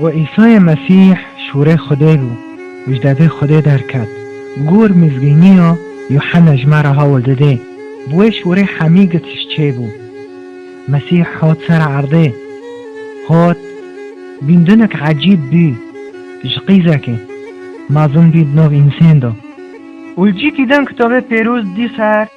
Û Îsayê Mesîh şûrê Xwedê bû û ji devê Xwedê derket. Gor mizgîniya Yuhena ji me re hewl didê. Bi wê şûrê hemî gitiş çêbû. Mesîh hat ser erdê. Hat, bîndinek ecîb bû ji qîzekê, mezin bî di nav însên de. Û li cî dîdan kitabê pêroz dî ser.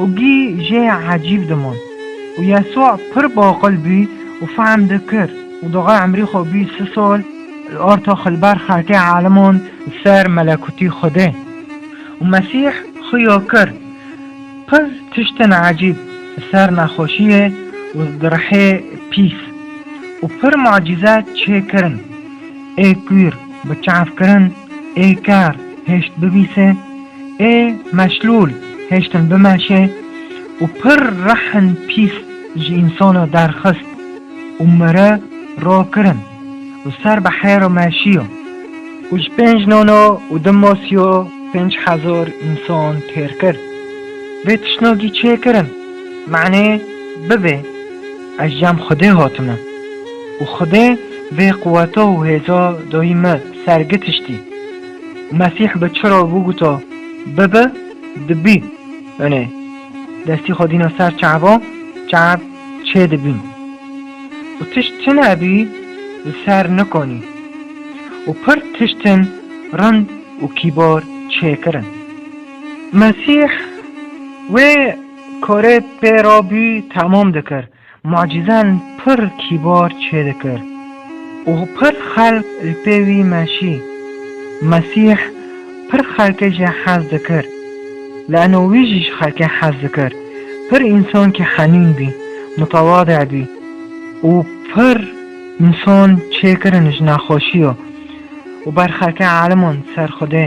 û gî jê ecîb dimon. Û Yesûa pir baqil bû û fehm dikir û daxê emrî xwe bû si sal li arta xwe li ber xelkê eliman li ser melekûtî Xwedê. Û Mesîh xuya kir pir tiştên ecîb li ser nexweşiyê û direhê pîs û pir mucîze çê kirin, ê kûr bi çavkirin, ê ker hêşt bibîse, Ê meşlûl hêştin bimeşe û pir rehn pîs ji însana derxist û mire ro kirin û ser bi hêro meşiyo û ji pênc nono û du mosiyo pênc hezar însan têr kir. Vê tişnagî çê kirin manê bibê ez ji cem Xwedê hatime û Xwedê vê quweta û hêza dayî me ser gitiştî. Mesîh bi çi re biguto bibe, dibî. Yanê destî xwe dîna ser çaba, çab çê dibîn. Û tişt çi nebî li ser nikonî. Û pir tiştin rind û kîbar çê kirin. Mesîh wê karê pê re bî temam dikir. Mucîzen pir kîbar çêdikir û pir xelk li pê wî meşî. Mesîh pir xelkê jî hez dikir. Le'no wî jî ji xelkê hez dikir. Pir însankî henîn bî, mutewade bî û pir însan çêkirin ji nexweşî yo û ber xelkê eliman ser Xwedê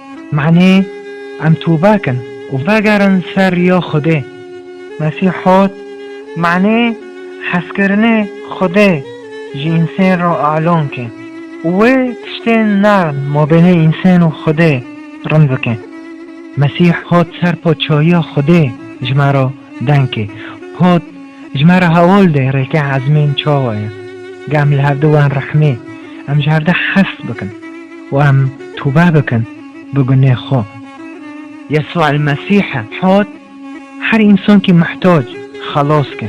Manê em tûbek in û vegerin ser ya Xwedê. Mesîh hot, Manê hezkirinê Xwedê ji însên re alon ke û wê tiştên nerm mabênê însên û Xwedê rind bike. Mesîh hot ser Paçahiya Xwedê ji me re deng kê. Hot, Ji me re hewl de rêkê ezmên çawa ye. Geh em li hev de wen rehmê, em ji hev de hest bikin. û em tûbe bikin bi gunê xwe. Yesû el Mesîh e hat her însankî muhtac xelas ke,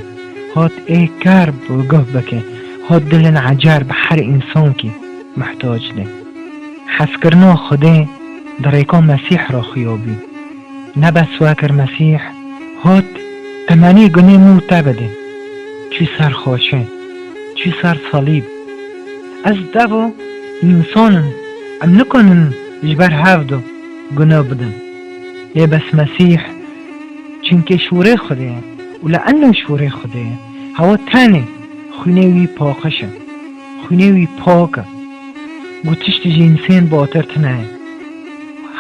hat ê kar bi guh bike, hat dilên ecar bi her însankî muhtac de. Hezkirina Xwedê di rêka Mesîh re xuya bû. Ne bes we kir Mesîh hat temenê gunê min û te bide. Çû ser xaçe, çû ser salîb. Ez devo însan im, em nikanin ji ber hev du guno bidin. Lê bes Mesîh çimkê şûrê Xwedê ye û li enna şûrê Xwedê ye, hewa tenê xwînê wî paqij e, xwînê wî pak e. Ku tiştî ji însên batir tine ye,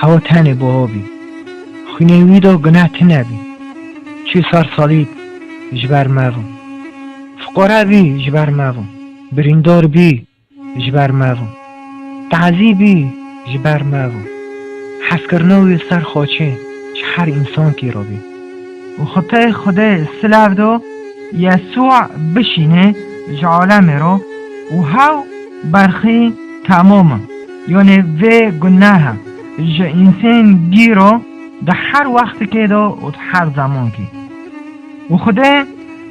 hewa tenê bi avî, xwînê wî de guneh tine bî. Çû ser salîb ji ber me ve. Fiqare bî ji ber me ve. Birîndar bî ji ber me bû. Tazî bî ji ber me bû. Hezkirina wî li ser xaçê ji her însankî re bî. Û xwte Xwedê silav do Yesû bişînê ji alemê re û hew berxî temam in. Yanê vê guneha ji însen gî re di her wextikê de û di her zemankî. Û Xwedê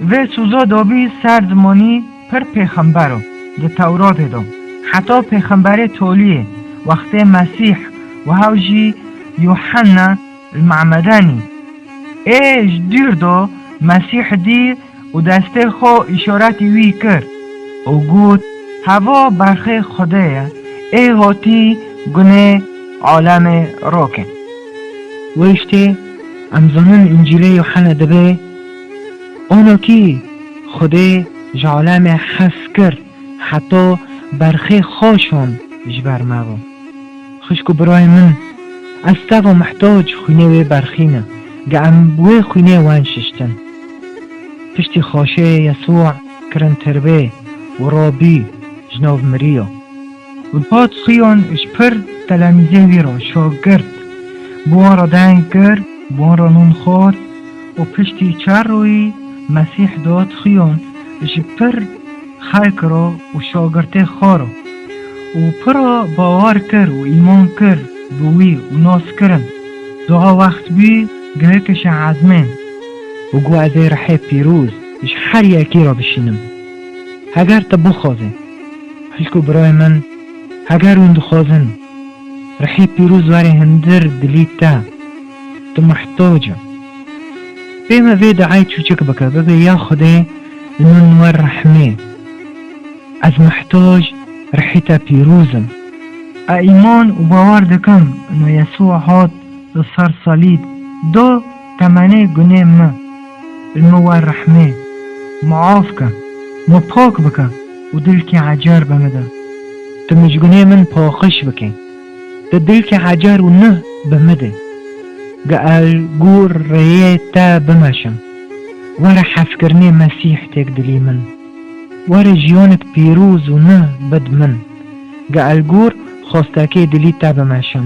vê soza dabî ser zimanî Pir pêxember o di Tewratê de. Heta pêxemberê toliyê, wextê Mesîh û hewl jî Yuhanna li Me'medanî ê ji dûr de Mesîh dî û destê xwe îşaretî wî kir û got, Heva berxê Xwedê ye, ê hatî gunê alemê rake. Wê ji tê em zanin Încîlê Yuhanna de bê. Ono kî Xwedê ji alemê hez kir heta berxê xwe şand ji ber me ve. Xwişk û birayên min, ez teva mihtac xwînê wê berxî ne, ge em bi wê xwînê wen şiştin. Piştî xaşê Yesu'a kirin tirbê û ra bî ji nav miriya. Bi pat xuyan ji pir telemîzên wî re şagirt bi wan re deng kir, bi wan re non xwar û piştî çar royî Mesîh dihat xuyan ji pir xelk re û şagirtê xwe re û pira bawar kir û îman kir bi wî û nas kirin, Diha wext bû gihekişe ezmên. Û got ez ê rihê pîroz ji her yekî re bişînim, heger te bixwazî. Xişk û birayê min, heger hûn dixwazin rihê pîroz warê hundir dilî te, tu mihtac î. Pê me vê duayê çûçik bike, bibe ya Xwedê li min wer rehmê. Ez mihtac rihê te pîroz im. A îman û bawer dikim ino Yesûa hat li ser salîb da. Temenê gunê mi li mi wer rehmê, miaf ke, mi pak bike û dilkê hecer be mi de. Tu mi ji gunê min paxiş bikê, tu dilkê hecer û nuh be mi de. Ge el gûr rêyê te bimeşim, were hefkirinê Mesîh têk dilî min. Were jiyanek pîroz û nuh bid min. Ge el gûr xwestekê dilî te bimeşim.